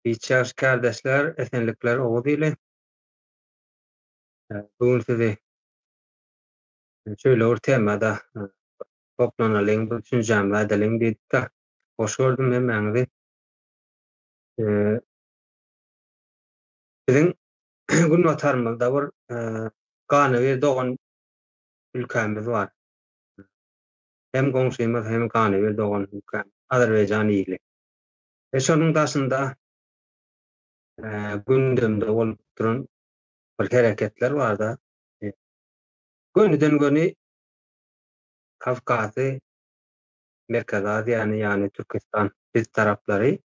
Biçar kärdeşler esenlikler oguz ili. Bu gün sizi şöyle bir temada toplanalyň, bir düşünjämi ädeliň diýdik-de. Hoş gördüm hemmäňizi. Biziň günbatarymyzda bir Ganybir dogan ülkämiz bar. hem goňşymyz hem ganybil dogan ülkäm Azerbaýjan ili we şonuň daşynda gündemde bolup duran bir hereketler barda göniden göni Kawkazy Merkezi Aziýany ýagny Türkistan biz taraplary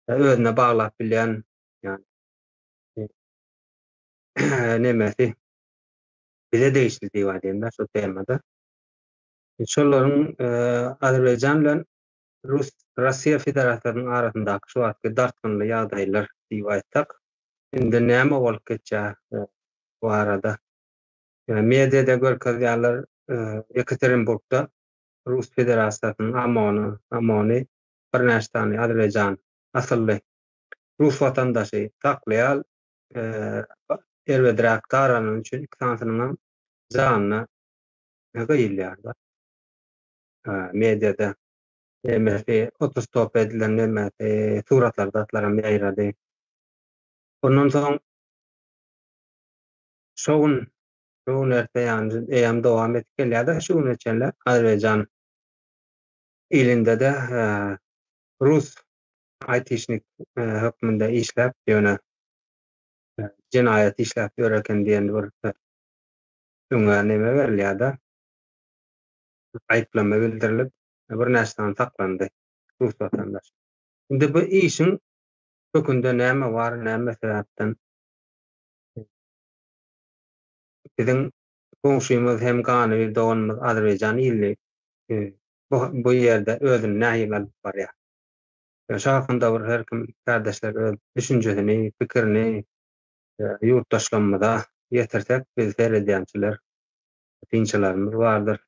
özüne baglap bilýän ýagny nemesi bize degişli diýip aýdaýynda şo temada Şolaryň Azerbaýjan bilen Russiýa Federasiýasynyň arasyndaky şu wagtky dartgynly ýagdaýlar diýip aýtsak, indi näme bolup geçýär barada. Mediada görkezýärler, Ýekaterinburgda Rus Federasiýasynyň OMON-y, OMON-y birnäçe sany Azerbaýjan asylly rus watandaşy saklaýar, erbedräk daranyny üçin iki sanysynyňam janyna ne gyýylýarlar mediada nemesi otostop edilen nemesi suratlar zatlaram ýaýrady ondan soň şu gün şu gün erte ýany eýam dowam edip gelýärdi şu güne çenli azerbaýjan ilinde de rus aýtişnik hökmünde işläp ýöne jenaýat işläp ýör eken diýen bir Öňe neme berilýärda? diýip aýyplama bildirilip, birnäçe sany saklandy rus watandaş. Indi bu işiň kökünde näme bar, näme sebäpden biziň goňşymyz hem ganybir doganymyz Azerbaýjan ýyly bu ýerde özüni nähili alyp barýar? Şo hakynda bir her kim kärdeşler öz düşünjesini, pikirini ýurtdaşlarymyza ýetirsek bizi seredýänçiler synçylarymyz bardyr.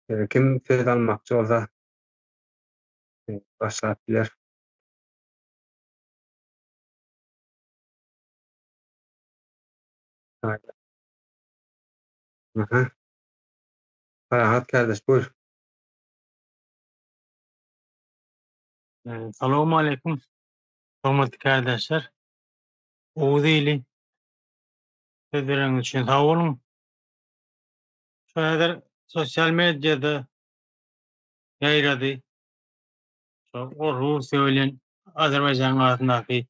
Ee, kim söz almakçy bolsa e, başlap biler. Haydi. Aha. Parahat kardeş buyur. Ee, Salamu aleyküm. Hormatly kärdeşler, Oguz ili söz bereniňiz üçin sag boluň. Şu häzir sosial mediada ýaýrady. Şu Russiýa bilen Azerbaýjanyň arasyndaky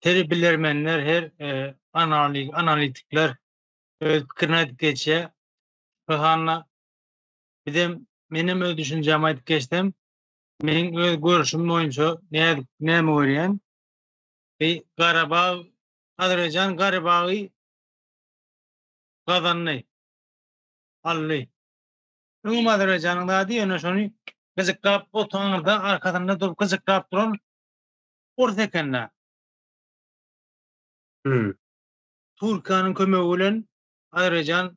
her bilermenler, her e, analitikler öz pikirini aýdyp geçýär. Şu sanda bizem menem öz düşünjämi aýdyp geçsem, Meň öz görüşim boýunça nädip näme görýän? Bi Garabag Azerbaýjan Garabagy gazandy. Aldy. Öňem Azerbaýjanyň zady ýöne şony gyjyklap otaňyzda arkasynda durup gyjyklap duran ors ekende. Hmm. Türkiýäniň kömegi bilen Azerbaýjan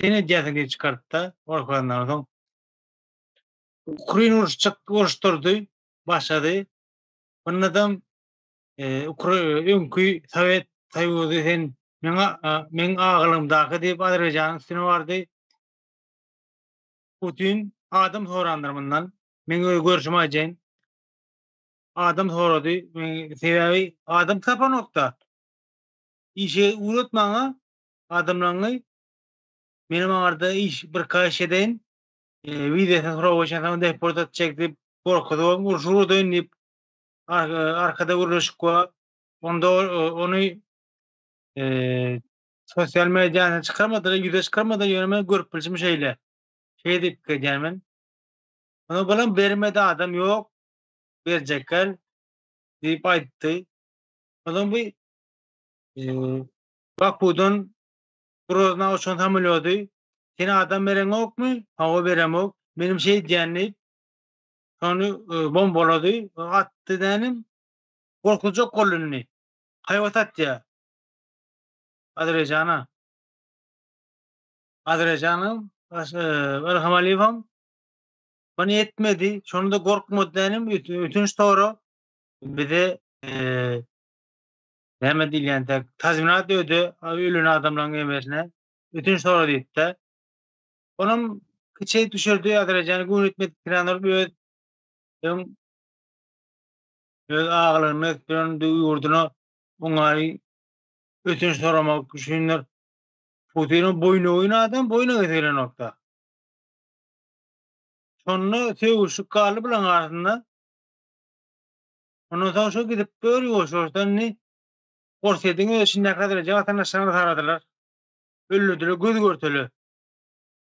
Sen edýäsiňi çykartda gorkuzandan soň Ukrain uruş çyk uruş turdy başlady. Bunadam Ukrain öňki Sowet Soýuzy sen meňa meň agylymdaky diýip Azerbaýjanyň üstüne bardy. Putin adam sorandyr bundan. Men öz görüşimi aýdaýyn. Adam sorady. Sebäbi adam tapanokda. Işe uratmaňa adamlaňňy menem aňarda iş bir kaş edeýin wizesin sorap oýşan soň deport etjek diýip gorkuzybam urşy urudaýyn diýip arkada gürleşik bar onda ony sosial mediýana çykarmadylar ýüze çykarmadylar ýöne men görüp bilşim şeýle şeýle diýip pikir edýän men Ony balam bermedi adam ýok. Berjekler diýip aýtdy. Ondan bu Bakudan Grozna uçan samolýody sen adam bereňokmy? Hawa beremok. Menem şeýdýän diýip, şony bombalady, atdy dänim. Gorkuzjak boldy indi. Haýbat atýar. Azerbaýjana. Azerbaýjanam, Ilham Aliýewem muny etmedi. Şonda gorkmady dänim, ötünç sorag. Bize Näme diýilýän dek, tazminat öde ölen adamlaryň emisine, ötünç sora diýipdi. Onam kiçi düşürdi, Azerbaýjana göni etmedik tiranorup öz öň öz agalaryny ösdüren ýurduna oňaýy ötünç soramak üçindir. Putiniň boýnagyn adam boýna getiren okda. Şonda sögüşik galdy bulaň arasynda. Ondan soň şo gidip gör ýuwaş-ýuwaşdan indi Orsýetiň öz içinde häzirejik watandaşlaryny taradylar. Öldürdiler göz görtele.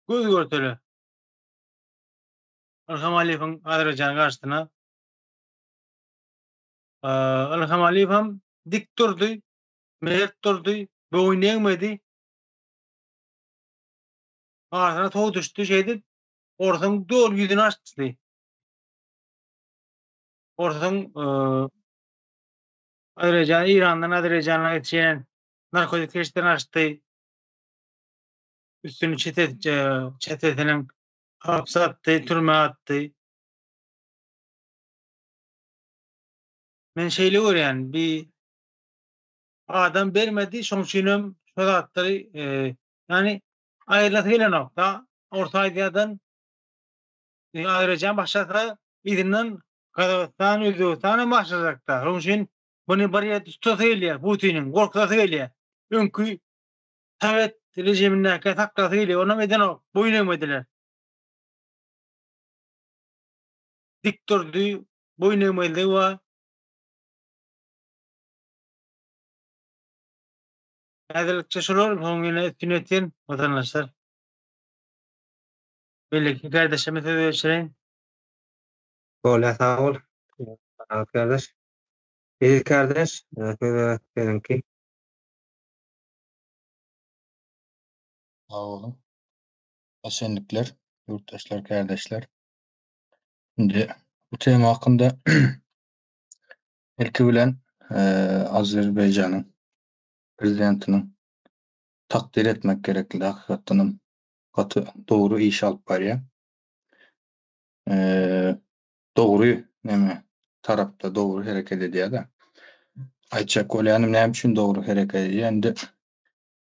Göz görtele. Ilham Aliýewiň Azerbaýjanyň garşysyna. Ilham Aliýew hem dik durdy, mert durdy, boýun egmedi. Arsyna tow düşdi şeýdip, orsuň dol ýüzüni açdy. Orsuň Azerbaýjan, Eýrandan Azerbaýjana geçýän narkotik serişdelerini açdy. Üstüni çete çetesiniň hapse atdy, türmä atdy. Men şeýle görýän, bi adam bermedi, şoň üçin hem şu zatlary, e, ýagny aýrylasy gelenokda. Orta Aziýadan Ine aýratyn başarsa yzyndan Gazagystan, Özbegistan hem başarjakda. Şonuň üçin muny bir ýerde tutasy gelýär Putiniň, gorkuzasy gelýär. Öňki sowet režimindäkä saklasy gelýär. Onam edenok, boýun egmediler. Dik durdy, boýun egmezligi bar. Häzirlikçe şular, soň ýene üstüni ýetsin, watandaşlar. Beýleki kärdeşime söz geçireýin. Bolýar sag bol. Aziz kärdeş. Eziz kärdeş, söze siziňki. Sag boluň. Esenlikler, ýurtdaşlar, kärdeşler. Indi bu tema hakynda ilki bilen Azerbaýjanyň prezidentiniň takdyr etmek gerekli hakykatdanam. gaty dogry iş alyp barýar. Eee dogry näme tarapda dogry hereket edýär-de. Aýtjak bolýanym näme üçin dogry hereket edýär? Indi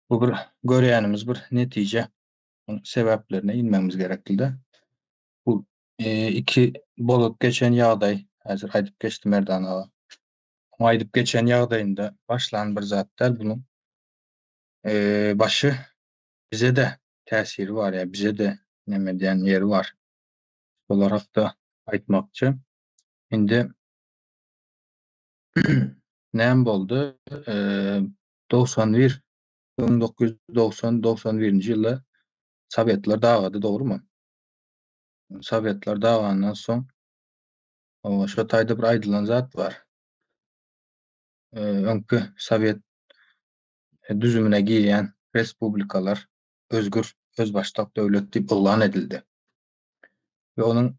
bu bir görýänimiz bir netije. Onuň sebäplerine inmegimiz gerekli-de. Bu eee iki bolup geçen ýagdaý, häzir aýdyp geçdi Merdan aga. Onuň aýdyp geçen ýagdaýynda başlan bir zat däl, bunuň eee başy bize-de täsiri bar, ýa bize-de neme edýän ýeri bar. Şolar hakda aýtmakçy. Indi näme boldy? Dogsan bir, müň dokuz ýüz dogsan, dogsan birinji ýylda Sowetler dagady, dogrumy? Sowetler dagandan soň, şo taýda bir aýdylan zat bar. Öňki Sowet düzümine girýän respublikalar özgür, özbaşdak döwlet diýip yglan edildi we onuň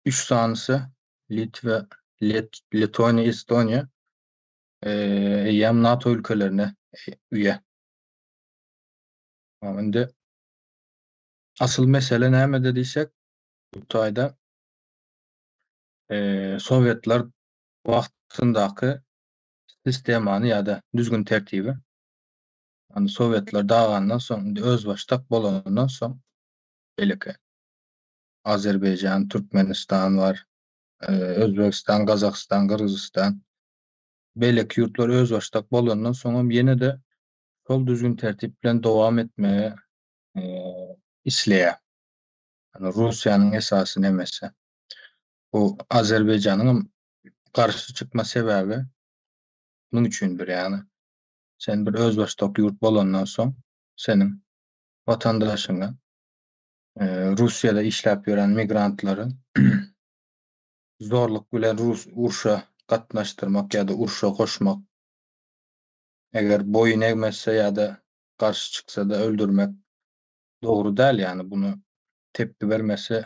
üç sanysy Litwa, Let, Letoniýa, Estoniýa eýýäm NATO ülkelerine üýe. Indi asyl mesele nämede diýsek, bu taýda e, sowetler wagtyndaky sistemany ýa-da düzgün-tertibi, ony sowetler dagandan soň, indi özbaşdak bolandan soň, beýleki Azerbaýjan, Türkmenistan bar, Özbegistan, Gazagystan, Gyrgyzystan, beýleki ýurtlar özbaşdak bolandan soň hem ýene-de şol düzgün-tertip bilen dowam etmegi isleýär. Ýani Russiýanyň esasy nemesi? Bu Azerbaýjanyň hem garşy çykma sebäbi muň üçindir. Ýagny sen bir özbaşdak ýurt bolandan soň seniň watandaşyňa Russiýada işläp ýören migrantlary zorluk bilen rus urşa gatnaşdyrmak ýa-da urşa goşmak eger boýun egmezse ýa-da garşy çyksa-da öldürmek dogry däl. Ýagny buna tepgi bermesi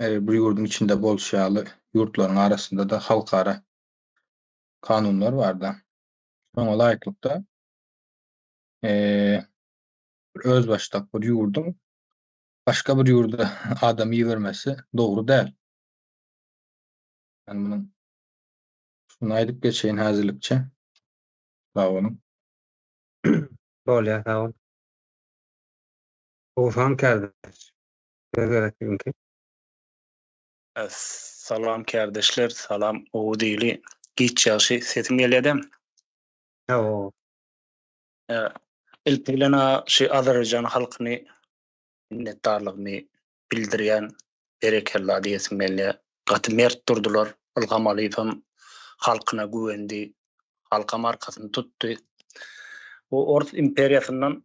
her bir ýurduň içinde bolşy ýaly, ýurtlaryň arasynda-da halkara kanunlar bar-da. Şoňa laýyklykda, özbaşdak bir ýurduň başga bir ýurda adam ibermesi dogry däl. Men munuň şuny aýdyp geçeýin häzirlikçe. Sag boluň. Bolýar, sag bol. Howsaň kardeş. Size gerek bizimki. Salam kärdeşler salam gowy dili giç ýagşy sesim gelýädä. Hawa. Ilki bilen a şu Azerbaýjan halkyny minnetdarlygymy bildirýän berekella diýesim gelýä gaty mert durdylar Ylham Alýewem halkyna güwendi halkam arkasyny tutdy bu ors imperiýasyndan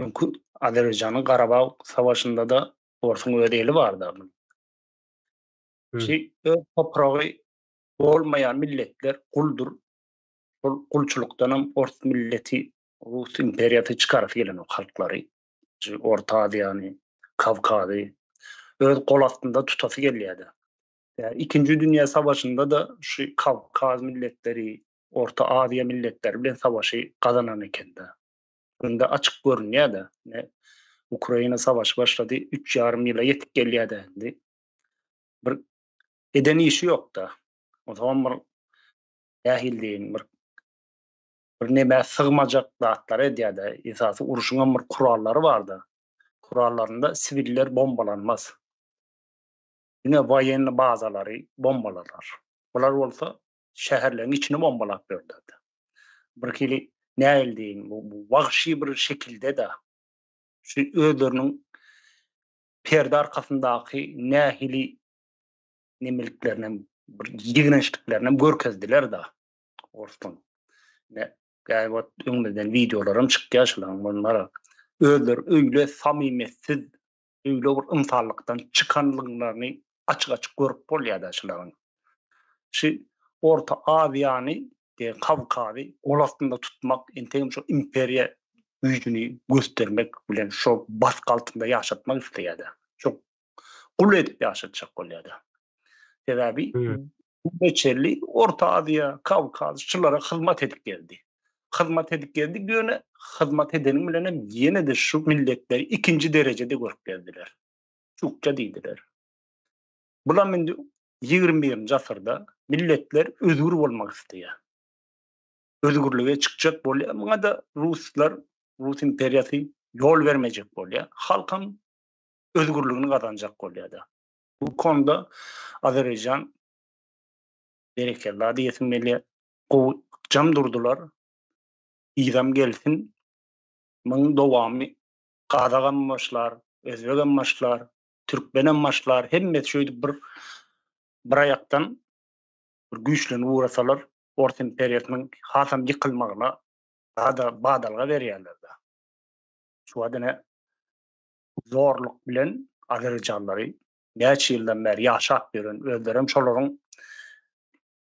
Öňki Azerbaýjanyň Garabag savaşynda-da orsuň öz eli bardy a munuň. Şi öz topragy bolmaýan milletler guldur. Şol gulçulykdanam ors milleti, rus imperiýasy çykarasy gelen o halklary. Şi Orta Aziýany, Kawkazy öz gol astynda tutasy gelýärdi. Ýa ikinji dünýä savaşynda-da şi Kawkaz milletleri, Orta Aziýa milletleri bilen savaşy gazanan eken-de. Indi açyk görünýär-de, indi Ukraina savaşy başlady, üç ýarym ýyla ýetip gelýär-de indi. Bir eden işi ýok-da. O zaman bir nähili diýeýin, bir bir nämä sygmajak zatlary edýär-de, esasy urşuň hem bir kurallary bar-da. Kurallarynda siwiller bombalanmaz. Diňe woýenni bazalary bombalalar. Bular bolsa şäherleriň içini bombalap berdiler. Bir hili näl deyin, bu, bu wagşy bir şekilde de şu özleriniň perde arkasyndaky nähili nemeliklerini bir ýigrençliklerini görkezdiler da orsun. Ne gäri wagt öňümizden videolaram çykýar şularyň bunlara. Özleri öýle samimiýetsiz öýle bir ynsanlykdan çykanlyklaryny açyk-açyk görüp bolýar-da şularyň. Şu Orta Aziýany, de Kawkazy gol astynda tutmak, entegem şo imperiýa güýjüni göstermek bilen şo basgy altynda ýaşatmak isleýär-de. Şo gul edip ýaşatjak bolýar-da. Sebäbi Göçerli Orta Aziýa, Kawkaz şulara hyzmat edip geldi. Hyzmat edip geldi, ýöne hyzmat edeniň bilen hem ýene-de şu milletleri ikinji derejede görüp geldiler. Çukça diýdiler. Bulam indi 21-nji asyrda milletler özgür bolmak isleýär. Özgürlige çykjak bolýar. Muňa-da ruslar, rus imperiýasy ýol bermejek bolýar. Halkam özgürligini gazanjak bolýar-da. Bu konuda Azerbaýjan berekella diýesim gelýär. Gowy ykjam durdylar. Yzam gelsin. Muň dowamy gazagam başlar, özbegem başlar, türkmenem başlar. Hemmesi şeýdip bir bir aýakdan bir güýçlenip ugrasalar Ors imperiýasynyň hasam ýykylmagyna bada badalga berýärler-de. Şu wada ne zorluk bilen azerijanlary näçe ýyldan bäri ýaşap ýören, özleri hem şolaryň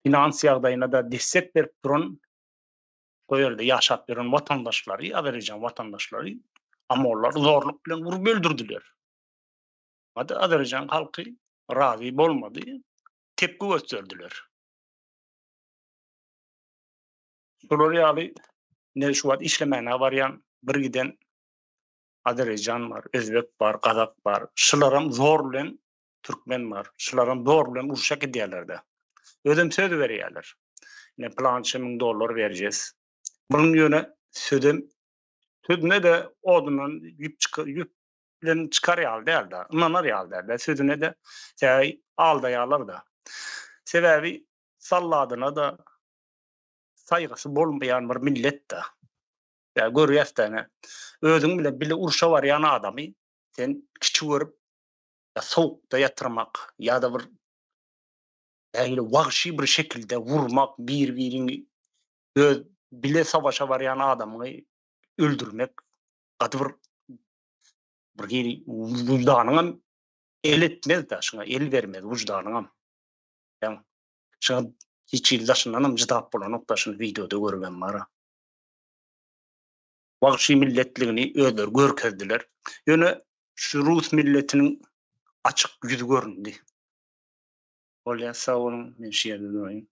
finans ýagdaýyna-da desek berip duran, şo ýerde ýaşap ýören watandaşlary, azerijan watandaşlary amollar zorluk bilen urup öldürdiler. Hada azerijan halky razy bolmady, tepki gösterdiler. Şolar ýaly ne şu wagt işlemäne barýan, bir giden Azereýjan bar, Özbek bar, Gazak bar. Şularam zor bilen Türkmen bar. Şularam zor bilen urşa gidýärlerde. Özem söz berýärler. Ne plança müň dollar berjes. Munuň ýöne sözem sözüne-de odundan ýüp çykyp ýüp bilen çykar ýaly däldi. Ynanar ýaly däldi. Sözüne-de täý aldaýarlar-da. Sebäbi salladyna-da saýgysy bolmaýan bir millet-de. Ýa görýäs-dä ine, özüň bilen bile urşa barýan adamy sen kiçi görüp, ýa sowukda ýatyrmak, ýa-da bir nähili wagşy bir şekilde urmak, bir-biriňi öz bile sowaşa barýan adamyňy öldürmek, gaty bir bir hili wyždanyňam el etmez-dä, şuňa el bermez wyždanyňam. Ýa şuňa hiç hili daşyndanam çydap bolanok-da, şuny wideoda görübem bar-a. wagşy milletligini özleri görkezdiler. Ýöne şu rus milletiniň açyk ýüzi göründi. Bolýar, sag boluň, men şu ýerde duraýyn.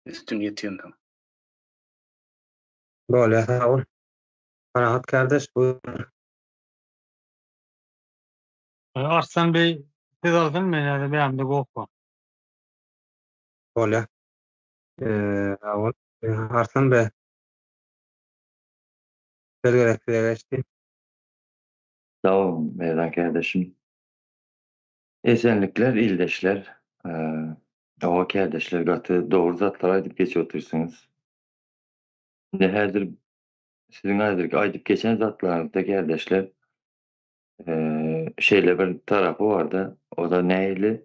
Üstün ýetýänsoň. Bolýar, sag bol. Parahat kardeş, buyur. Arslan beý siz alsyn men häzir beýanymda gopba. Bolýar. Sag bol. Arslan beý Söz gerek size geçdi. Sag boluň Merdan kärdeşim. Esenlikler ildeşler. Hawa kärdeşler gaty dogry zatlar aýdyp geçip otyrsyňyz. Indi häzir siziň häzirki aýdyp geçen zatlaryňyzda kärdeşler şeýle bir tarapy barda oda nähili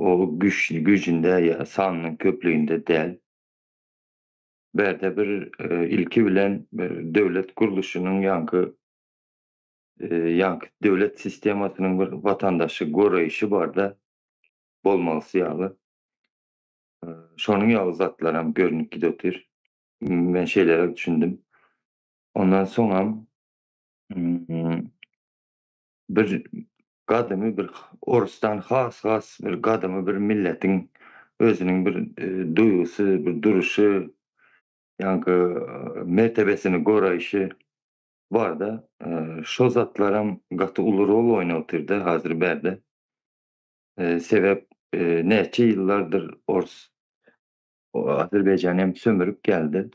Ol güçli gücünde ýa sanynyň köplüginde däl. Bu ýerde bir ilki bilen bir döwlet gurluşynyň ýaňky ýaňky döwlet sistemasynyň bir watandaşy goraýşy barda bolmalysy ýaly. Şonuň ýaly zatlaram görnüp gidotyr. Men şeýleräk düşündim. Ondan soňam bir gadymy bir orusdan has-has bir gadymy bir milletiň özüniň bir duýgusy, bir duruşy, ýaňky mertebesini goraýşy barda şo zatlaram gaty uly rol oýnapotyrda hazir bärde. Sebäp näçe ýyllardyr orus Azerbaýjany hem sömürip geldi.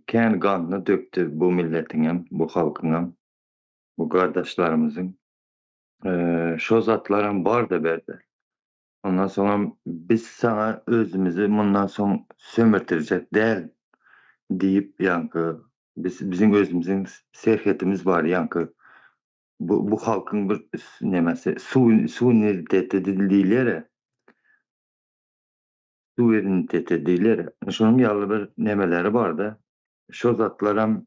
Kän ganyny dökdi bu milletiňem, bu halkyňam. bu gardaşlarymyzyň şo zatlaram barda berde. Ondan soňam biz saňa özümizi mundan soň sömürtirjek däl diýip ýaňky biz biziň özümiziň serhetimiz bar ýaňky bu bu halkyň bir nemesi suwiniteti diýilýär-ä suweriniteti diýilýär şonuň ýaly bir nemeleri barda şo zatlaram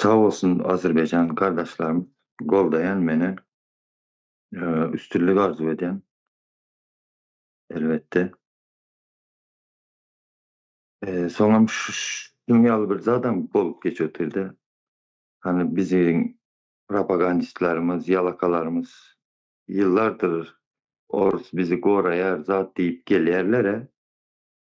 Sag bolsun Azerbaýjan gardaşlarym goldaýan meni üstünlik arzuw edýän elbetde. Soňam şunuň ýaly bir zadam bolup geçipdirde hany biziň propagandistlerimiz ýalakalarymyz ýyllardyr orus bizi goraýar zat diýip gelýärlere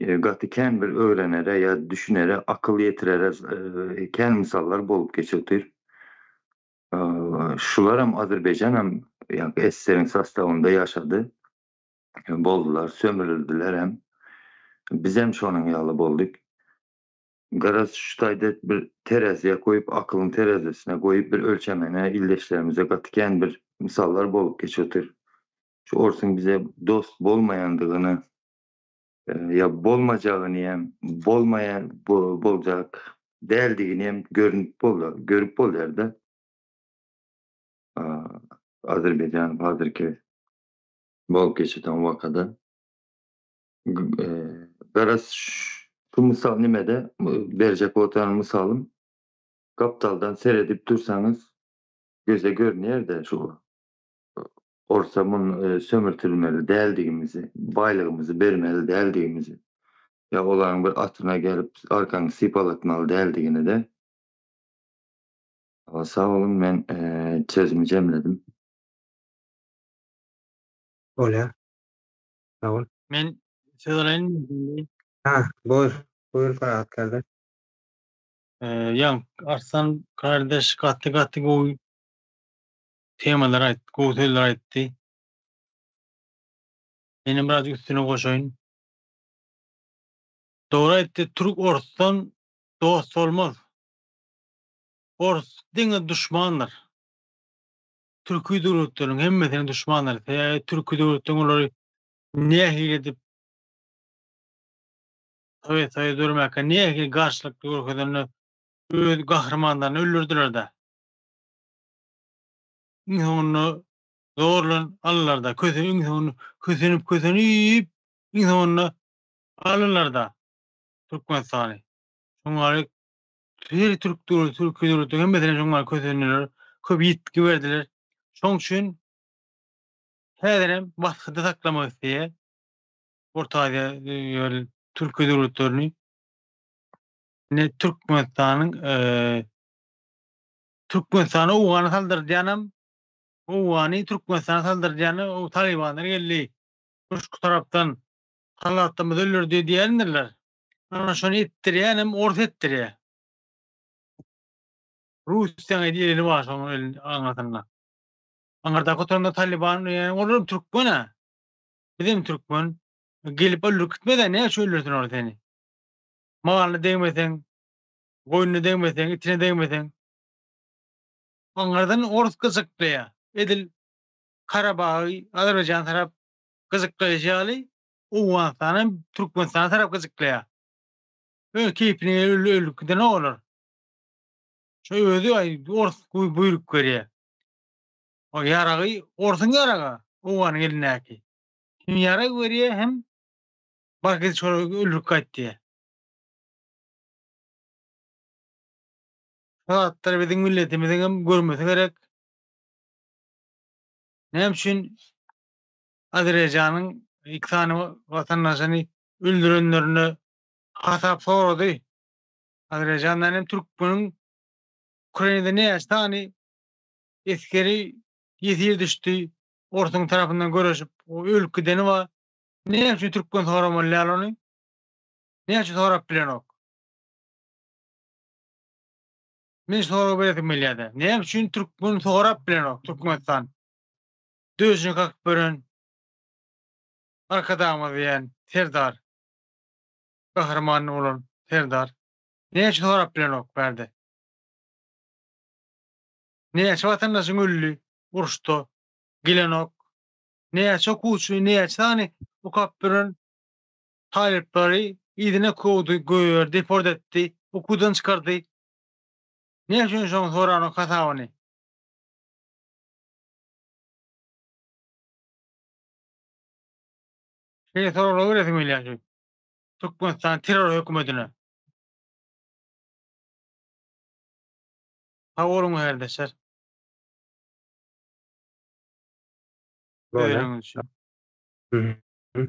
Gaty kän bir öwrenere ýa düşünere, akyl ýetirere kän mysallar bolup geçip otyr. Şularam Azerbaýjanam SSR-iň sostawynda ýaşady, boldular, sömrüldilerem. Bizem şonuň ýaly boldyk. Garaz şu taýda bir teräziýe goýup, akylyň terezisine goýup bir ölçemene ildeşlerimize gaty kän bir mysallar bolup geçip otyr. Şu orsuň bize dost bolmaýandygyny ýa bolmajagyny hem bolmaýan boljak däldigini hem görnüp bolýar görüp bolýarda Azerbaýjan hazirki bolup geçýän wakada garaz şu mysal nimede berjek otaryň mysalym gapdaldan seredip dursaňyz göze görünýärde şu bolsa muny sömürtilmeli däldigimizi, baýlygymyzy bermeli däldigimizi ýa olaryň bir atyna gelip arkaňy sypalatmaly däldigini-de Sag boluň men sözümi jemledim. Bolýar. Sag bol. Men söz alaýynmy? Ha, buyur. Buyur Farhat kardeş. Jan Arslan kardeş gaty gaty gowy temalar aýtdy, gowy sözler aýtdy. Menem biraz üstüne goşaýyn. Dogry aýtdy, türk orsdan dost bolmaz. Ors diňe duşmandyr. Türki döwletleriň hemmesine duşmandyr. Sebäbi türki döwletleň olary nähili edip Sowet Soýuzy dörmäkä nähili garşylyk görkezende öz gahrymanlaryny öldürdiler-de. Iň soňunda zorlan alynarda, köse iň soňunda kösenip kösenip iň soňunda alynarda Türkmenistany. Şoňa garik her türk döwleti türki döwletler hemmesine şoňa garik kösendiler, köp ýitgi berdiler. Şoň üçin häzirem basgyda saklamak isleýär Orta Aziýa ýöl türki döwletlerini. Ne Türkmenistanyň eee Türkmenistana Owgany saldyrýanam, Owgany Türkmenistana saldyrýany o Talybanlar geldi, Köşki tarapdan salahdatymyzy öldürdi diýendirler. Ana şony etdirýänem ors etdirýär. Russiýaň edil eli bar şoň aňyrsynda. Aňyrdaky oturanda Talyban diýýän olar Türkmen-ä. Bizem Türkmen. Gelip öldürip gitmez-ä näçe öldürsin ol seni. Maly degmeseň Goýnuna degmeseň, itine degmeseň. Aňyrdan ors gyjaklaýar. Edil Karabagy Azerbaýjan tarap gyjaklaýşy ýaly, Owganystan hem Türkmenistana tarap gyjaklaýar. Öz keýpine ölüp gidenok olar. Şu özi ors buýruk berýär. O ýaragy orsuň ýaragy, owganyň elindäki. Hem ýarag berýär, hem bar git şolara öldürip gaýt diýýär. Şu zatlary biziň milletimiziň hem görmesi gerek. Näme üçin Azerbaýjanyň iki sany watandaşyny öldürenlerine hasap sorady. Azerbaýjandan hem türkmeniň Ukrainada näçe sany eskeri ýesir düşdi, orsuň tarapyndan göreşip, ölüp gideni bar. Näme üçin türkmen soramalýar ony? Näçe sorap bilenok. Men sorag beresim gelýärdi. Näme üçin türkmen sorap bilenok Türkmenistan? Döjüni kakyp beren Arkadagymyz diýen Serdar. Gahryman bolan Serdar. Näçe sorap bilenok bärde. Näçe watandaşyň öldi uruşda gelenok. Näçe okuwçy, näçe sany okap beren talyplary yzyna kowdy, goýberdi, deport etdi, okuwdan çykardy. Näme üçin şoň soranyň hasabyny? Şeýle soraglar beresiň gelýär şu Türkmenistan terror hökümetine. Sag boluň herdeşler. Böyle. Öýleriňiz üçin. Hı hı.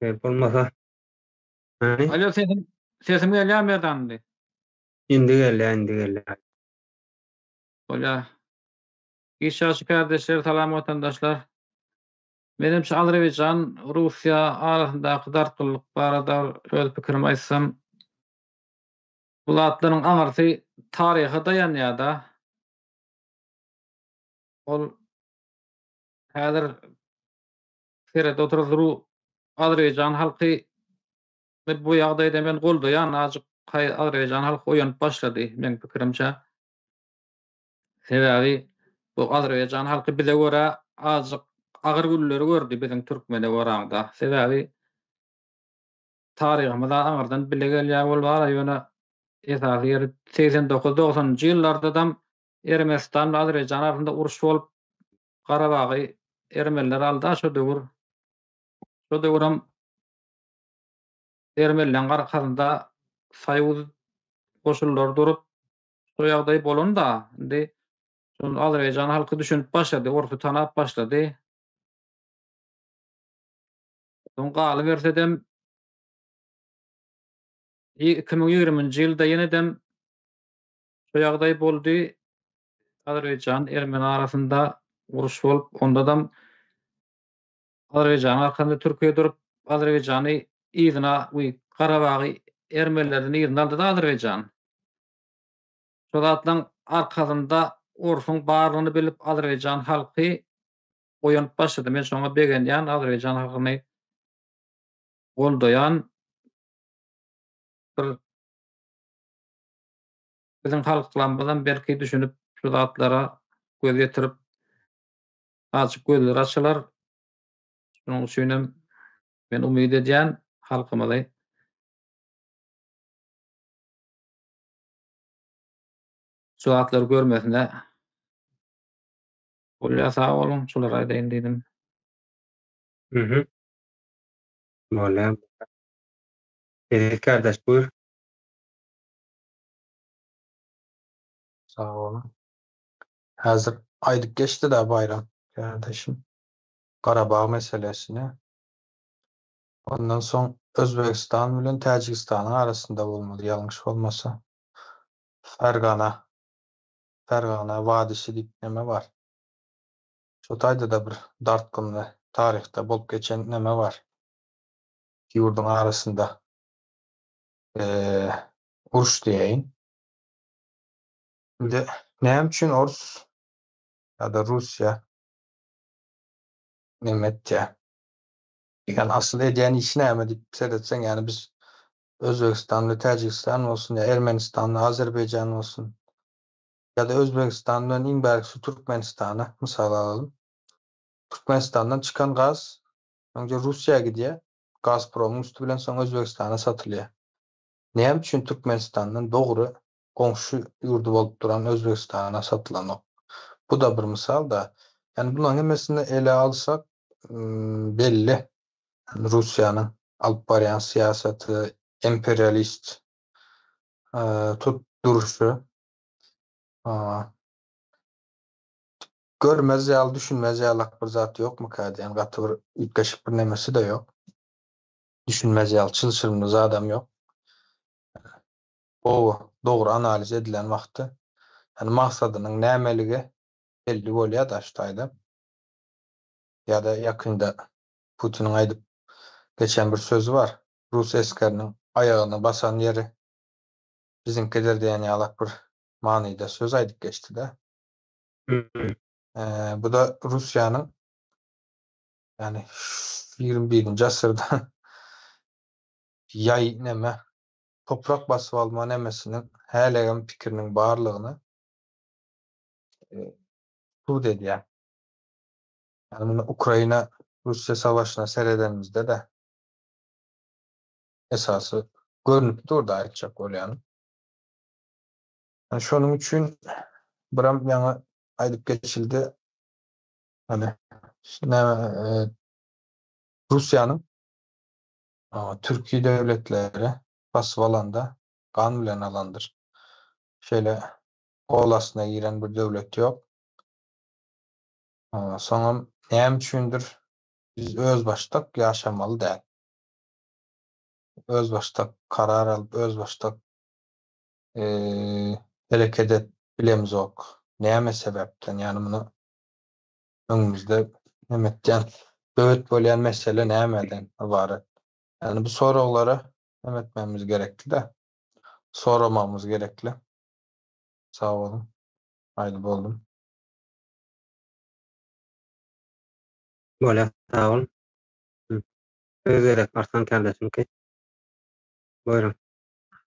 Gerek bolmasa. Hani? Alo sesim sesim gelýär Merdanly. Indi gelýär, indi gelýär. Bolýar. Giç ýagşy kardeşler, salam watandaşlar. Menem şu Azerbaýjan, Russiýa arasyndaky dartgynlyk barada öz pikirimi aýtsam, bu zatlaryň aňyrsy taryha daýanýar-da. Ol häzir serede oturan zru Azerbaýjan halky we bu ýagdaýda men goldaýan ajyk haý Azerbaýjan halky oýanyp başlady meň pikirimçe. Sebäbi bu Azerbaýjan halky bize görä ajyk agyr günleri gördi biziň türkmene goranda. Sebäbi taryhymyza aňyrdan bile gelýär ol bala ýöne esasy ýeri segsen dokuz dogsanynjy ýyllardadam Ermenistan bilen Azerbaýjan arasynda uruş bolup Garabagy ermeniler alda şo döwür. Şo döwürem ermenileň arkasynda soýuz goşunlary durup şo ýagdaý bolanda indi şonda Azerbaýjan halky düşünip başlady orsy tanap başlady. Soň galybersedem iki müň ýigriminji ýylda ýenedem Şu ýagdaý boldy, Azerbaýjan, Ermeni arasynda uruş bolup, ondadam Azerbaýjanyň arkasynda Türkiýe durup, Azerbaýjany yzyna we Garabagy Ermenilerden yzyna aldy-da Azerbaýjan. Şo zatlaryň arkasynda Orsuň barlygyny bilip Azerbaýjan halky oýanyp başlady. Men şoňa begenýän, Azerbaýjan halkyny goldaýan bir biziň halklarymyzam belki düşünip şu zatlara göz ýetirip azjyk gözleri açylar. Şonuň üçinem men umyt edýän halkymyzy. Şu zatlary görmesine bolýar sag boluň şulary aýdaýyn diýdim. Mhm. Bolýar. Eziz kardaş buyur. Sag boluň. Häzir aýdyp geçdi-dä Baýram kärdeşim Garabag meselesini. Ondan soň Özbegistan bilen Täjigistanyň arasynda bolmaly, ýalňyş bolmasa. Fergana, Fergana wadisi diýip neme bar? Şo taýda-da bir dartgynly taryhda bolup geçen neme bar? Iki ýurduň arasynda. uruş diýeýin. Indi näme üçin orus ýa-da russiýa näme etýär? Ýöne asyl edýän işi näme diýip seretseň, ýani biz Özbegistanly Täjigistan bolsun ýa Ermenistanly Azerbaýjan bolsun ýa-da Özbegistan bilen iň bärkisi Türkmenistany mysal alalyň. Türkmenistandan çykan gaz öňje Russiýa gidýär. Gazpromyň üsti bilen soň Özbegistana satylýar. Näme üçin Türkmenistandan dogry goňşy ýurdy bolup duran Özbegistana satylanok? Bu-da bir mysal-da. Ýani bularyň hemmesini ele alsak, belli, Russiýanyň alyp barýan syýasaty, imperialist tut durşy. Görmez ýaly, düşünmez ýalak bir zat ýokmyka diýen gaty bir üýtgeşik bir nemesi-de ýok. Düşünmez ýaly çylşyrymly zadam ýok. Gowy, dogry analiz edilen wagty, ýagny maksadynyň nämeligi belli bolýar daş taýdan. Ýa-da ýakynda Putiniň aýdyp geçen bir sözi bar, Rus esgeriniň aýagyny basan ýeri biziňkidir diýen ýalak bir manyda söz aýdyp geçdi-de. Öý. Bu-da Russiýanyň, ýagny ýigrimi birinji asyrda ýaý neme, toprak basyp alma nemesiniň hälegem pikiriniň barlygyny subut edýär. Ýagny muny Ukraina, Russiýa savaşyna seredenimizde-de esasy görnüp dur-da aýtjak bolýanym. Şonuň üçin biram ýaňy aýdyp geçildi, ýöne näme Russiýanyň türki döwletleri basyp alanda gan bilen alandyr. Şeýle gol astyna giren bir döwlet ýok. Soňam näme üçindir biz özbaşdak ýaşamaly däl. Özbaşdak karar alyp, özbaşdak hereket edip bilemzok. Näme sebäpden? Ýani muny öňümizde näme etýän? Böwet bolýan mesele nämeden ybarat? Ýani bu soraglara näme etmegimiz gerekli-de? Soramagymyz gerekli. Sag boluň. Aýdyp oldum. Bolýar sag bol. Söz gerek Arslan kärdeşimki. Buýruň.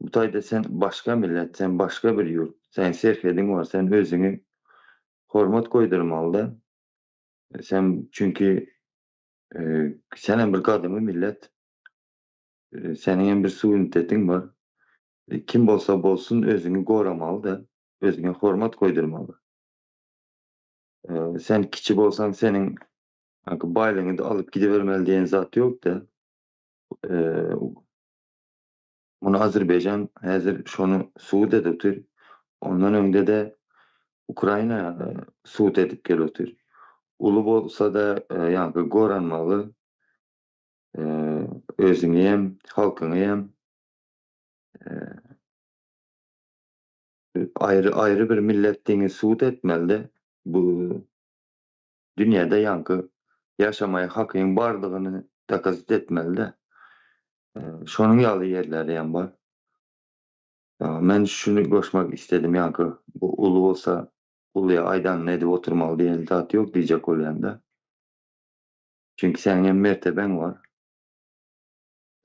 Bu taýda sen başga millet, sen başga bir ýurt, seniň serhediň bar, sen özüňi hormat goýdurmalyda. Sen çünki sen hem bir gadymy millet, seniň hem bir suwinitetiň bar. Kim bolsa bolsun özüňi goramalyda, özüňe hormat goýdurmaly. Sen kiçi bolsaň seniň baýlygyňy-da alyp gidibermeli diýen zat ýok-da. Muny Azerbaýjan häzir şony subut edip otyr. Ondan öňde-de Ukraina subut edip gelip otyr. Uly bolsa-da ýaňky goran maly özüňi hem, halkyňy hem aýry-aýry bir millet diňi subut etmeli-de. Bu dünýäde ýaňky ýaşamaýa hakyň bardygyny dokazit etmeli-dä. Şonuň ýaly ýerleri hem bar. Men şuny goşmak isledim, ýaňky bu uly bolsa, uluýa aýdanyny edip oturmaly diýen zat ýok diýjek bolýan-da. Çünki seniň hem mertebeň bar.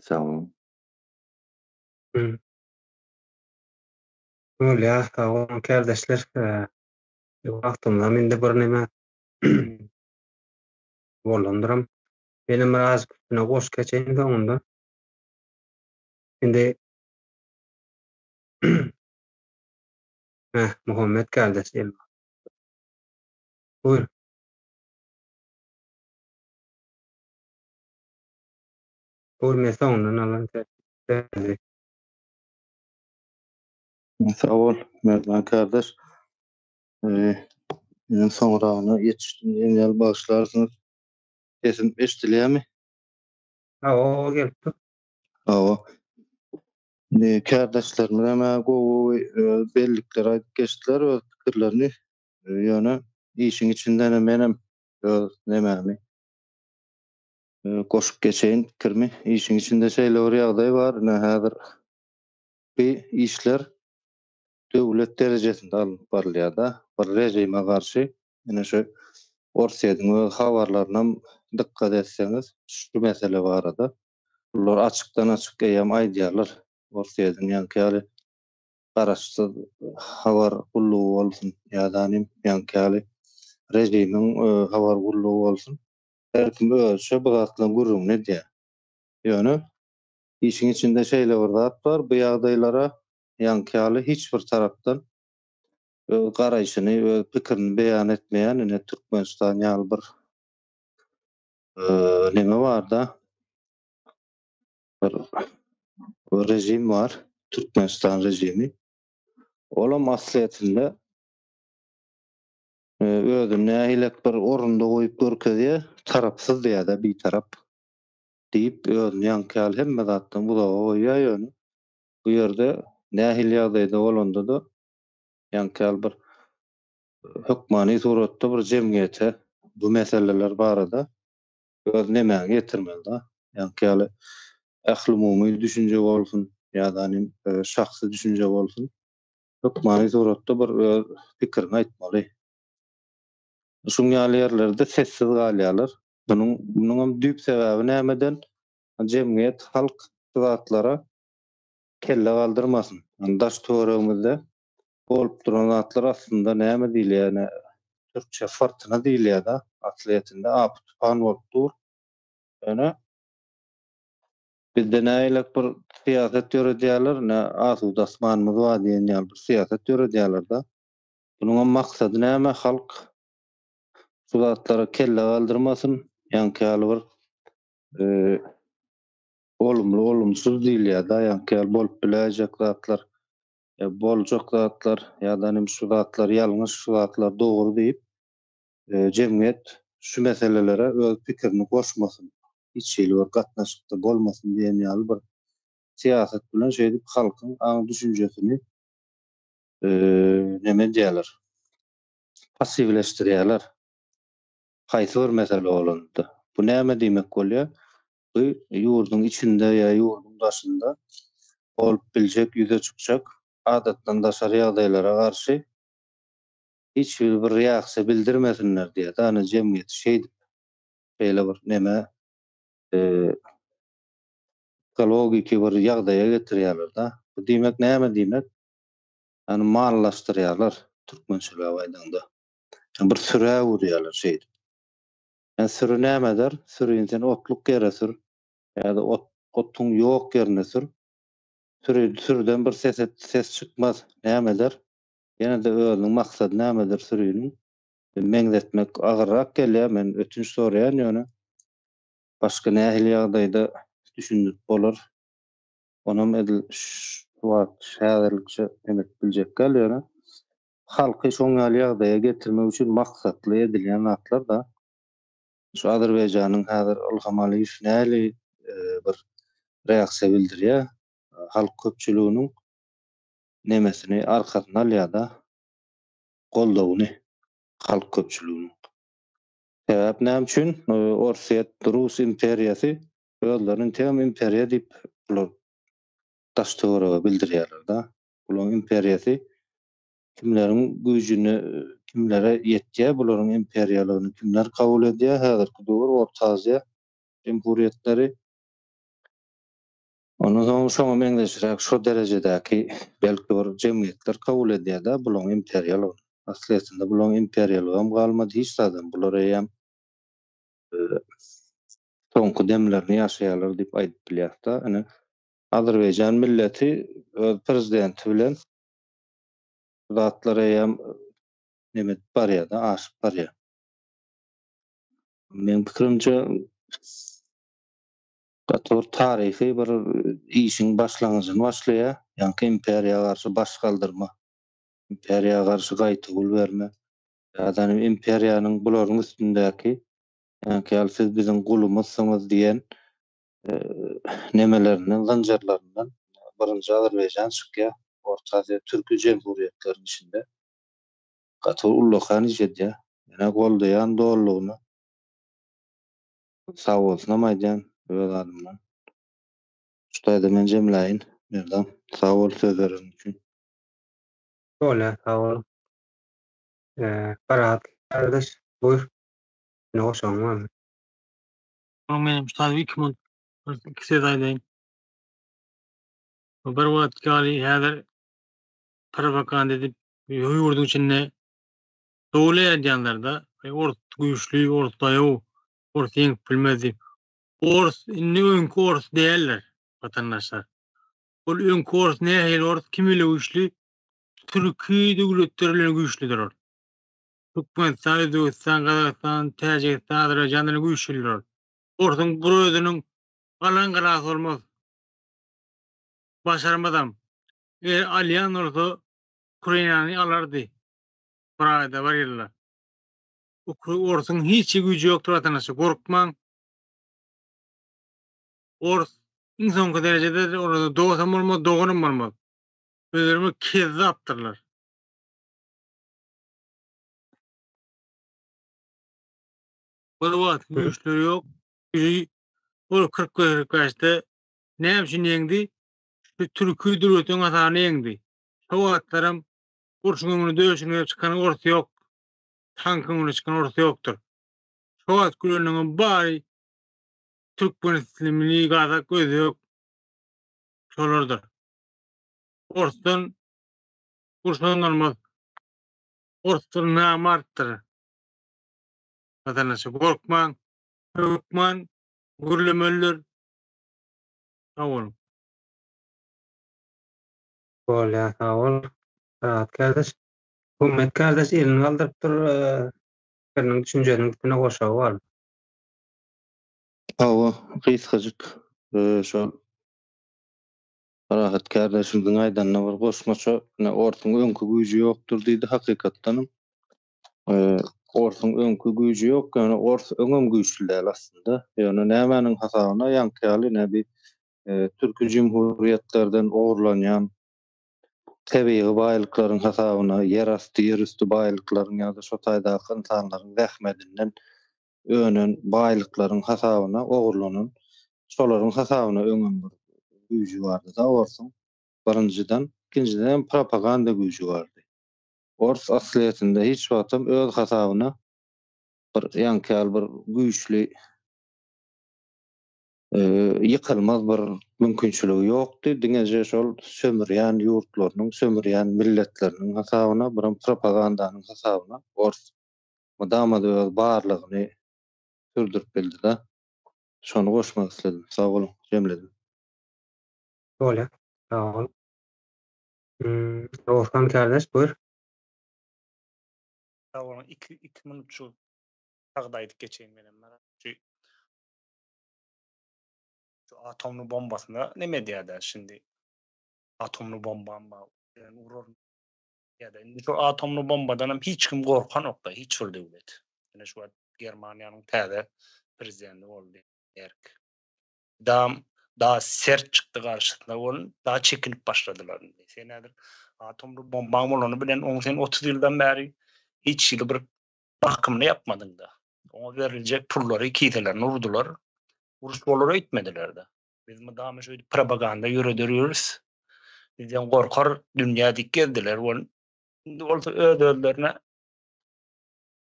Sag boluň. Bolýar, sag boluň kärdeşler. Şu wagtymda mende birneme bolandyram. Menem biraz üstüne goşup geçeýin soňunda. Indi Heh, Muhammet geldi. Buyur. Buyur, men soňundan alan tersi. Sag bol, Merdan kardeş. Meniň soňragyna ýetişdim diýen ýaly bagyşlarsyňyz. Sesim eşidilýärmi? Hawa, oba gelip dur. Hawa. Indi kardeşlerimiz hem gowy öz bellikleri aýdyp geçdiler, öz pikirlerini. Ýöne işiň içinden menem öz nemämi goşup geçeýin pikirimi. Işiň içinde şeýle bir ýagdaý bar, ine häzir Bu işler döwlet derejesinde alnyp barylýar-da. Bir režime garşy, ine şu Orsýetiň öz habarlarynam dykgat etseňiz, şu mesele barada olar açykdan-açyk eýýäm aýdýarlar. Orsýetiň ýaňky ýaly garaşsyz habar gullugy bolsun ýa-da nim ýaňky ýaly režimiň habar gullugy bolsun, her kim özüçe bu zatlaryň gürrüňini edýär. Ýöne Işiň içinde şeýle bir zat bar, bu ýagdaýlara ýaňky ýaly hiç bir tarapdan öz garaýşyny, öz pikirini beýan etmeýän ine Türkmenistan ýaly bir neme bar-da, bir režim bar, Türkmenistan režimi. Olam aslyýetinde özüni nähilek bir orunda goýup görkezýär, tarapsyz diýýär-de, bitarap. diýip, özüni ýaňky ýaly hemme zatdan uzaga goýýar, ýöne bu ýerde nähili ýagdaýda bolanda-da, ýaňky ýaly bir hökmany suratda bir jemgyýete bu meseleler barada öz nemäňi ýetirmeli-dä. Ýaňky ýaly ählumumy düşünje bolsun ýa-da nim şahsy düşünje bolsun, hökmany suratda bir öz pikiriňi aýtmaly. Şuň ýaly ýerlerde sessiz galýarlar. Munuň munuňam düýp sebäbi nämeden? Jemgyýet, halk şu zatlara kelle galdyrmasyn. Ýöne daş-töweregimizde bolup duran zatlar aslynda näme diýilýär, ýöne türkçe fyrtyna diýilýär-de, aslyýetinde apy-tupan bolup dur. Ýöne bizde nägilek bir syýasat ýöredýärler, ne asuda asmanymyz bar diýen ýaly bir syýasat ýöredýärler-de. Munuňam maksady näme? Halk şu zatlara kelle galdyrmasyn, ýaňky ýaly bir olumly olumsyz diýilýär-dä, ýaňky ýaly bolup biläýjek zatlar, boljak zatlar ýa-da nim şu zatlar ýalňyş, şu zatlar dogry diýip, jemgyýet şu meselelere öz pikirini goşmasyn, hiç hili bir gatnaşykda bolmasyn diýen ýaly bir syýasat bilen şeýdip halkyň aň-düşünjesini neme edýärler, passiwleşdirýärler. Haýsy bir mesele bolanda. Bu näme diýmek bolýar? Bu ýurduň içinde ýa ýurduň daşynda bolup biljek, ýüze çykjak adatdan daşary ýagdaýlara garşy hiç bir bir reaksiýa bildirmesinler diýýär. Ýagny jemgyýeti şeýdip şeýle bir neme ekologiki bir ýagdaýa getirýärler-de. Bu diýmek näme diýmek? ýagny mallaşdyrýarlar türkmençeläp aýdaňda. Ýa bir sürä urýarlar şeýdip. Ýa süri näme eder? Sürini sen otluk ýere sür ýa-da ot otuň ýok ýerine sür. Süri sürüden bir ses et ses çykmaz. Näme eder? Ýene-de özüniň maksady nämedir süriniň? Meňzetmek agyrrak gelýär. Men ötünç soraýan ýöne. Başga nähili ýagdaýda düşündirip bolar? Onam edil şu wagt häzirlikçe öňüp biljek däl ýöne halky şoň ýaly ýagdaýa getirmek üçin maksatly edilýän zatlar da. Şu Azerbaýjanyň häzir Ylham Aliýew näli bir reaksiýa bildirýär halk köpçüliginiň nemesini arkasyna alýar da goldawyny halk köpçüliginiň. Sebäp näme üçin Orsýet rus imperiýasy Özlerini inteýem imperiýa diýip bular daş-töwerege bildirýärler-de. Bularyň imperiýasy kimleriň güýjüne, kimlere ýetýär, bularyň imperiýalygyny kimler kabul edýär, häzirki döwür Orta Aziýa jumhuriýetleri. Ondan soň şoňa meňzeşräk şo derejedäki belki bir jemgyýetler kabul edýär-de bularyň imperiýalygyny. Aslyýetinde bularyň imperiýalygam galmady, hiç zadam. Bular eýýäm soňky demlerini ýaşaýarlar diýip aýdyp bilýäris-de. Ine, Azerbaýjan milleti öz prezidenti bilen bu zatlar eýýäm neme edip barýar-da, aşyp barýar. Meniň pikirimçe, gaty bir taryhy bir işiň başlangyjyny başlaýar, ýaňky imperiýa garşy baş galdyrma, imperiýa garşy gaýtawul berme, ýa-da imperiýanyň bularyň üstündäki Enkäl siz biziň gulumyzsyňyz diýen nemelerinden, zynjyrlaryndan birinji Azerbaýjan çykýar. Orta Aziýa türki jemhuriýetleriniň içinde gaty ullakan iş edýär. Ýöne goldaýan dolulygyna sagbolsunam aýdýan öz adymdan. Şu taýda men jemläýin Merdam. Sag bol sözleriň üçin. Doly sag bol. Parahat gardaş buyur. Indi goşagyň barmy? Soň men hem sadip iki minut iki söz aýdaýyn. Bir wagt ýaly häzir propaganda edip ýurduň içinde dowul edýänlerde ors güýçli, ors daýaw, ors ýeňip bilmez diýip. Ors indi öňki ors däldir watandaşlar. Ol öňki ors nähili ors kim ile güýçli? Türki döwletler bilen güýçlidir ol. Türkmenistan, Özbegistan, Gazagystan, Täjigistan, Azerbaýjan bilen güýçli durar. Orsuň bir özüniň galan galasy bolmaz. Başarmazam. Eger alýan bolsa, Ukrainany alardy. Bir aýda, bir ýylda. Ukra, orsuň hiç güýji ýokdur watanaşy, gorkmaň. Ors iň soňky derejede olarda dostam bolmaz, doganam bolmaz. Özlerimi kezzapdyrlar. Bir wagt güýçleri ýok. Ýeri ol kyrk gözlük gaçdy. Näme üçin ýeňdi? Şu türki dürwetiň hasabyna ýeňdi. Şo wagtlaram urşuň öňüne döşüne çykan ors ýok. Tankyň öňüne çykan ors ýokdur. Şo wagt güleniňem bary türkmenitlimli, gazak, özbek şolardyr. Orsdan Gursanylmaz orusdan näme artdyr? Watanaşy gorkmaň, hökman gürlemelidir. Sag boluň. Bolýa sag bol Rahat kardeş. Gummet kardeş elini galdyrypdyr pikiriniň düşünjeniň üstüne goşagy bar. Hawa gysgajyk şol. Parahat kärdeşimiziň aýdanyna bir goşmaça, ine, orsuň öňki güýji ýokdur diýdi, hakykatdanam, orsuň öňki güýji ýok, ýöne ors öňem güýçli däl aslynda. Ýöne nämäniň hasabyna, ýaňky ýaly, ine, bi türki jumhuriýetlerden ogurlanýan tebigy baýlyklaryň hasabyna, ýerasty, ýerüsti baýlyklaryň ýa-da şo taýdaky ynsanlaryň zähmedinden önen baýlyklaryň hasabyna ogurlanan şolaryň hasabyna öňem bir güýji bardyda orsuň birinjiden ikinjiden hem propaganda güýji bardy ors aslyýetinde hiç wagtam öz hasabyna bir ýaňky ýaly bir güýçli ýykylmaz bir mümkinçiligi ýokdy diňeje şol sömürýän ýurtlarynyň sömürýän milletleriniň hasabyna biram propagandanyň hasabyna ors mydama-da öz barlygyny sürdürip bildi-de. Şony goşmak isledim. Sag boluň, jemledim. Bolýa, sag bol. Rowşan kärdeş, buyur. Sag boluň, iki, iki minut şu sagda aýdyp geçeýin menem. Şu, şu atomly bombasyna neme edýär-dä şindi? Atomly bombam bar, uraryn. ýa-da indi şu atomly bombadanam hiç kim gorkanok-da, hiç bir döwlet. Ine şu wagt Germaniýanyň täze prezidenti boldy, Merk. Dam, da sert çykdy garşysyna bolun, da çekinip başladylar indi. Sen häzir atomly bombaň bolany bilen, oň sen otuz ýyldan bäri hiç hili bir bakymyny ýapmadyň-da. Oňa beriljek pullary, kiselerine urdular. Uruş bolar öýtmediler-de. Biz mydama şöýdüp propaganda ýöreder ýörüs. Bizden gorkar dünýä dik gezdiler we indi bolsa öz-özlerine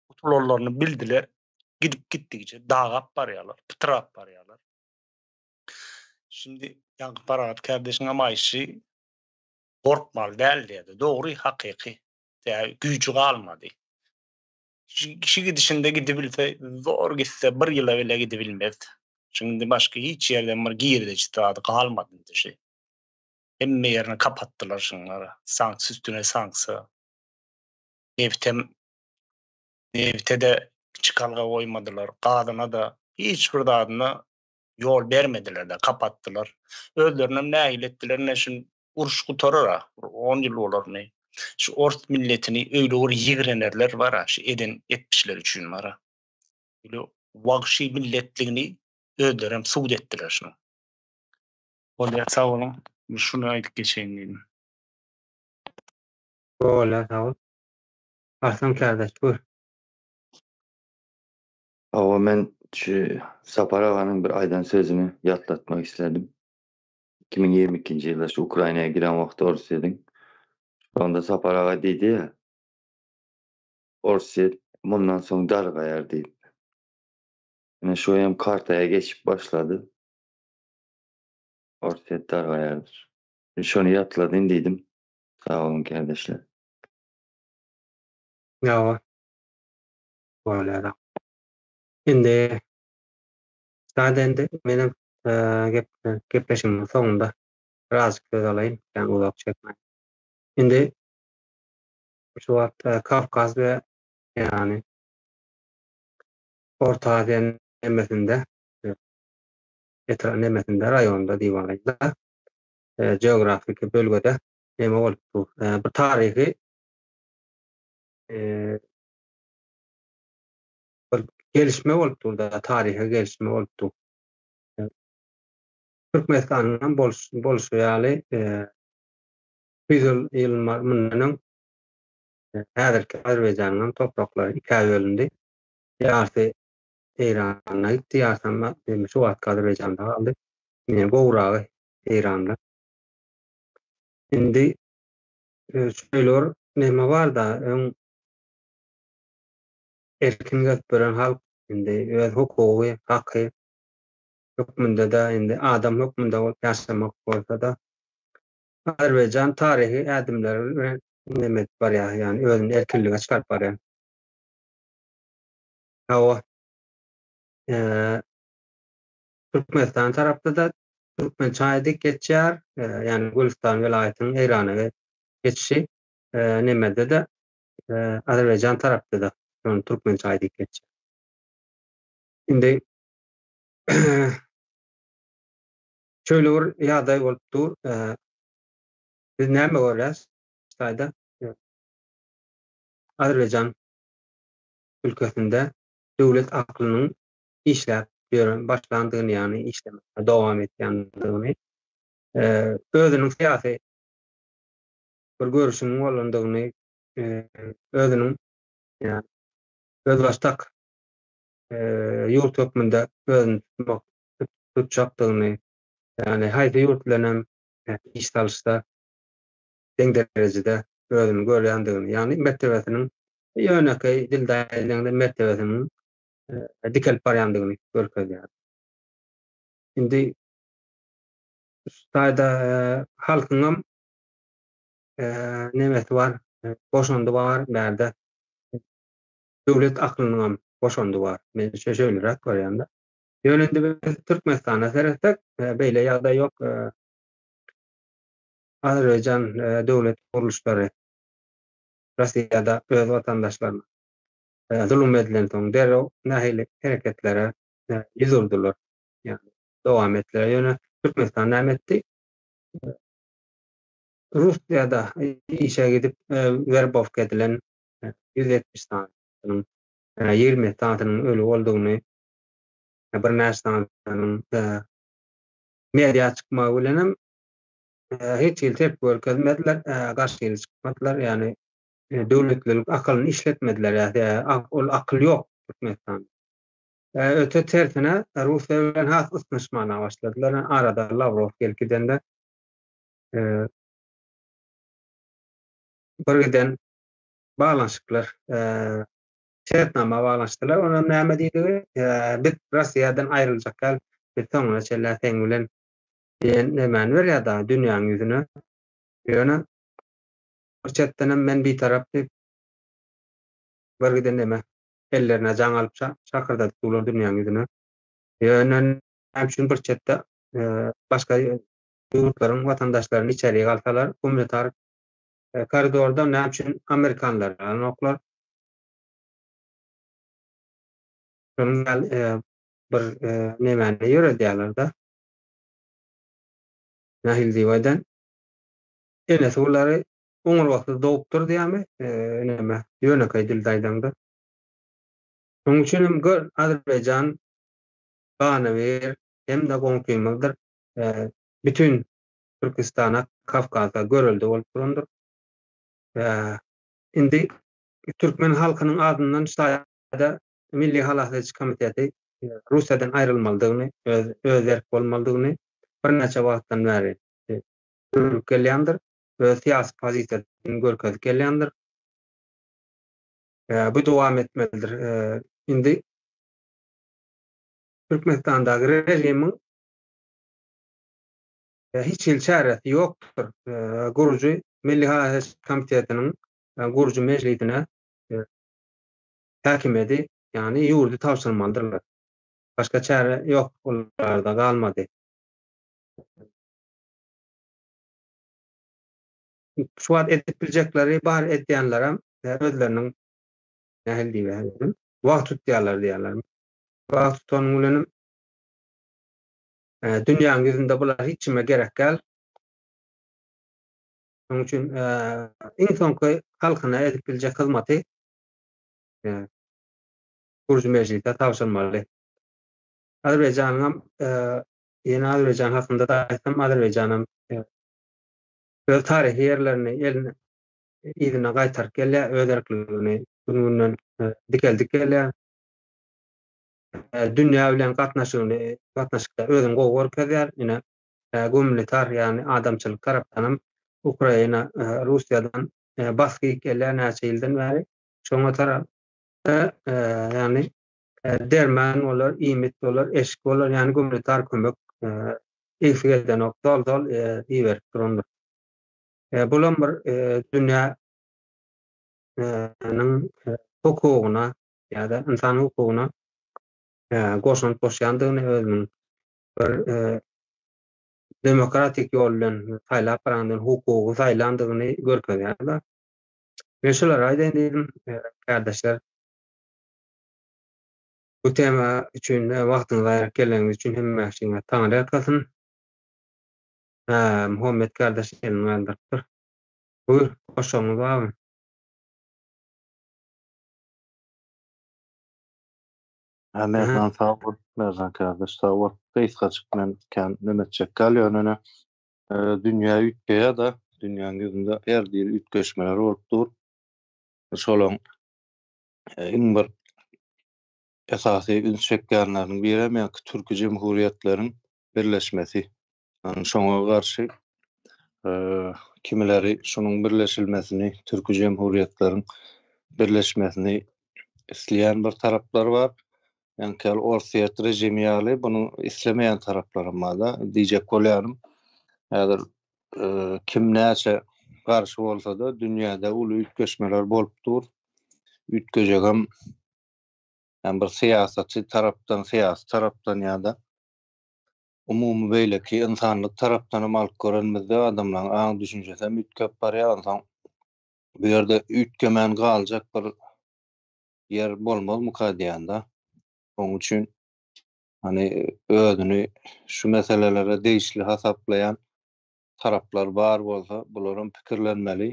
utulanlaryny bildiler. Gidip gitdigiçe dagap barýarlar, pytrap barýarlar. Şimdi ýaňky parahat kardeşiň hem aýşy gorkmaly däl diýdi. Dogry, hakyky. Däl, güýji galmady. Kişi gidişinde gidibilse, zor gitse, bir ýyla bile gidibilmez. Çünki başga hiç ýerden bir girdeji zady galmady indi şu. Hemme ýerini kapatdylar şunlara. Sanksiýa üstüne sanksiýa. Nebtem nebte-de çykalga goýmadylar, gazyna-da, hiç bir zadyna ýol bermediler-de, kapatdylar. Özlerinem nähili etdiler, ine şu uruş gutarar-a, bir on ýyl bolar indi. Şu ors milletini öýle bir ýigrenerler bar-a, şu eden etmişleri üçin bar-a. Öýle wagşy milletligini özlerem subut etdiler şunuň. Bolýar, sag boluň. Şuny aýdyp geçeýin diýdim. Bolýar, sag bol. Arslan kärdeş, buyur. Hawa, men şu Sapar aganyň bir aýdan sözüni ýatlatmak isledim. Iki müň ýigrimi ikinji ýylda şu Ukrainaya giren wagty Orsýediň Şonda Sapar aga diýdi ýa Orsýet mundan soň dargaýar diýip. Ine şu hem kartaýa geçip başlady. Orsýet dargaýardyr. Şony ýatladyn diýdim. Sag boluň kärdeşler. Ýa bor. Bolýar. Indi Sada indi menem gep gepleşigimiň soňunda biraz söz alaýyn, ýagny uzak çekmän. Indi şu wagt Kawkaz we ýagny Orta Aziýanyň nemesinde etrap nemesinde raýonda diýip alaýda geografiki bölgede neme bolupdyr? Bir taryhy bir gelişme bolup durdy, taryhy gelişme bolup durdy. Türkmenistanyň hem bolşy ýaly, ýüz ýyl ýylymar mundan öň häzirki Azerbaýjanyň hem topraklary ikä bölündi. Ýarysy Eýrana gitdi, ýarysy hem şu wagtky Azerbaýjanda galdy. Ine, gowragy Eýranda. Indi şeýle bir näme bar-da, öň Erkin gezip ýören halk indi öz hukugy, haky hökmünde-de, indi adam hökmünde bolup ýaşamak bolsa-da, Azerbaýjan taryhy ädimler bilen neme edip barýar, ýagny özüni erkinlige çykaryp barýar. Hawa, Türkmenistan tarapda-da türkmen çaýy dik geçýär, ýagny Gülüstan welaýatynyň Eýrana geçişi, nemede-de, Azerbaýjan tarapda-da şony türkmençe aýdyp geçýär. Indi şöyle bir ýagdaý bolup dur. Biz näme görýäs? Şaýda Azerbaýjan ülkesinde döwlet aklynyň işläp ýören başlandygyny, ýagny işlemekde dowam edýändigini, özüniň syýasy bir görüşiň bolandygyny özüniň özbaşdak ýurt hökmünde özüni tutmak tutjakdygyny ýagny haýsy ýurt bilen hem iş salyşda deň derejede özüni görýändigini ýagny mertebesiniň ýönekeý dilde aýdylanda mertebesiniň dikelip barýandygyny görkezýär. Indi şu taýda halkyňam nemesi bar, goşandy bar, bärde döwlet aklynyňam goşandy bar. Men şo şeýleräk görýän-de. Ýöne indi biz Türkmenistana seretsek, beýle ýagdaý ýok. Azerbaýjan döwlet gurluşlary Russiýada öz watandaşlaryna zulum edilensoň derrew nähili hereketlere ýüz urdular. Ýöne Türkmenistan näme etdi? Russiýada işe gidip werbowka edilen ýüz ýetmiş sanynyň ýigrimi ýedi sanynyň öli boldugyny birnäçe sanynyň mediýa çykmagy bilen hem hiç hili tepgi görkezmediler, garşy hili çykmadylar, ýagny döwletlilik akylyny işletmediler, ol akyl ýok Türkmenistanda. Öte tersine Russiýa bilen has ysnyşmana başladylar, arada Lawrow gelip gidende birgiden baglanyşyklar şertnama baglanyşdylar. Onam näme diýdigi? Biz Russiýadan aýryljak ýaly biz soňuna çenli seň bilen diýen nämäni berýär dagy dünýäň ýüzüne. Ýöne bir çetdenem men bitarap diýip birgiden näme ellerine jaň alyp şakyrdadyp durlar dünýäň ýüzüne. Ýöne näme üçin bir çetde başga ýurtlaryň watandaşlaryny içeri alsalar, gumanitar koridorda näme üçin amerikanlary alnoklar? Şonuň ýaly bir nemäni ýöredýärler-de. Nahil Diwaýdan enesi bulary oňurgasyz dogupdyr diýýärmi, näme, ýönekeý dilde aýdaňda. Şonuň üçin hem gör, Azerbaýjan, Ganybir, hem-de goňşymyzdyr, bütin Türkistana, Kawkaza görelde bolup durandyr. Indi türkmen halkynyň adyndan şaýada Milli halas ediş komiteti Russiýadan aýrylmalydygyny, öz erk bolmalydygyny birnäçe wagtdan bäri gürlüp gelýändir, öz syýasy pozisiýasyny görkezip gelýändir. Bu dowam etmelidir. Indi Türkmenistandaky režimiň hiç hili çäresi ýokdur. Gurujy Milli Haýyş komitetiniň gurujy mejlisine häkimiýeti, ýagny ýurdy tabşyrmalydyrlar. Başga çäre ýok olarda galmady. Şu wagt edip biljekleri bar, edýänlerem özleriniň nähili diýiber, wagt tutýarlar diýýärlermi, Bag tutanyň bilenem dünýäň ýüzünde bular hiç kime gerek däl. Şonuň üçin iň soňky halkyna edip biljek hyzmaty Gürji mejlise tabşyrmaly. Azerbaýjanyňam ýene Azerbaýjan hakynda da aýtsam, Azerbaýjanam öz taryhy ýerlerini eline yzyna gaýtaryp gelýär, öz erkligini gün-günden dikeldip gelýär. dünýä bilen gatnaşygyny gatnaşykda özüni gowy görkezýär. Ine, gumanitar, ýagny adamçylyk tarapdanam Ukraina Russiýadan basgy gelýär näçe ýyldan bäri. Şoňa tarap ýagny derman bolar, iýmit bolar, eşik bolar, ýagny gumanitar kömek egsi geldenok, zol-zol iberip durandyr. Bulam bir dünýä niň hukugyna ýa-da ynsan hukugyna goşant goşýandygyny özüniň bir demokratik ýol bilen saýlap barandygyny, hukugy saýlandygyny görkezýärler. Men şular aýdaýyn diýdim, kardeşler. Bu tema üçin wagtyňyzy aýryp geleniňiz üçin hemme şeýle taňry ýalkasyn. Ha, Muhammet kardeş elini galdyrypdyr. Buyur, goşagyňyz barmy? Hä, Merdan sag bol. Merdan kardeş sag bol. Gysgajyk men kän neme etjek galýan ene. Dünýä üýtgeýär-de, dünýäň ýüzünde her hili üýtgeşmeler bolup dur. Şolaň iň bir esasy üns çekýänleriniň biri hem ýaňky türki jemhuriýetleriň birleşmesi. Şoňa garşy kimileri şunuň birleşilmesini, türki jemhuriýetleriň birleşmesini isleýän bir taraplar bar. Ýani kel Orsýet rejimi ýaly bunu islemeýän taraplar hem bar. Diýjek bolýanym, häzir e, kim näçe garşy bolsa-da, dünýäde uly üýtgeşmeler bolup dur. Üýtgejek hem hem bir syýasaty tarapdan, syýasy tarapdan ýa-da umumy beýleki ynsanlyk tarapdanam alyp görenimizde adamlaryň aň düşünjesi hem üýtgäp barýar onsoň bu ýerde üýtgemän galjak bir ýer bolmazmyka diýýän-de. Oň üçin hani özüni şu meselelere degişli hasaplaýan taraplar bar bolsa bularam pikirlenmeli.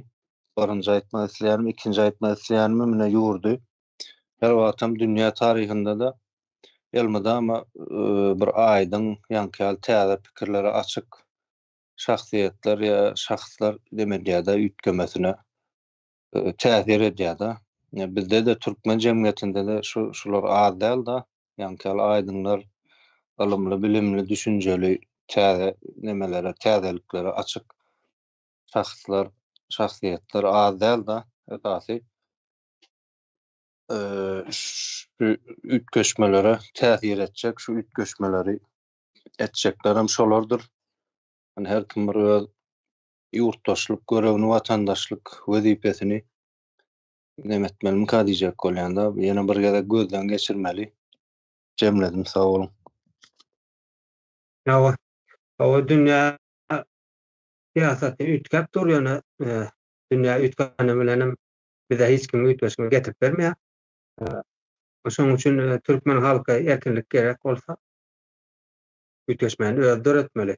Birinji aýtmak isleýänim, ikinji aýtmak isleýänim mine ýurdy her wagtam dünýä taryhynda-da elmydama e, bir aýdyň ýaňky täze pikirlere açyk şahsyýetler ýa şahslar demedýär-de üýtgemesine. e, täsir edýär-de. E, bizde-de türkmen jemgyýetinde-de şu şular az däl-de. Ýaňkyýaly aýdymlar ylymly, bilimli, düşünjeli, täze nemelere, täzeliklere açyk şahslar, şahsyýetler az däl-de. Esasy şu üýtgeşmelere täsir etjek, şu üýtgeşmeleri etjekler hem şolardyr. Yani her kim bir öz ýurtdaşlyk görevini, watandaşlyk wezipesini näme etmelimika diýjek bolýanda, ýene bir gezek gözden geçirmeli. Jemledim, sag boluň. Hawa, hawa dünýä syýasaty üýtgäp dur, ýöne dünýä üýtgäni bilenem bize hiç kim üýtgeşme getirip bermeýär. Şonuň üçin türkmen halka erkinlik gerek bolsa, üýtgeşmeni özi döretmeli.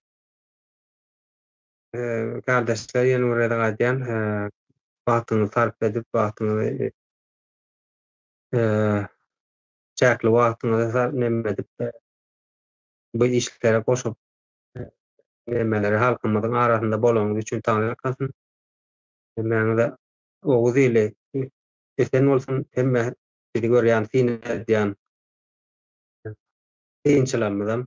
Gardaşlar ýene bir gezek aýdýan wagtyňyzy sarp edip wagtyňyzy çäkli wagtyňyzy sarp neme edip bu işlere goşup nemeleri halkymyzyň arasynda bolaňyz üçin taňy ýalkasyn. Hemmäňize Oguz ili esen bolsun hemme bizi görýän syn edýän synçylarymyzam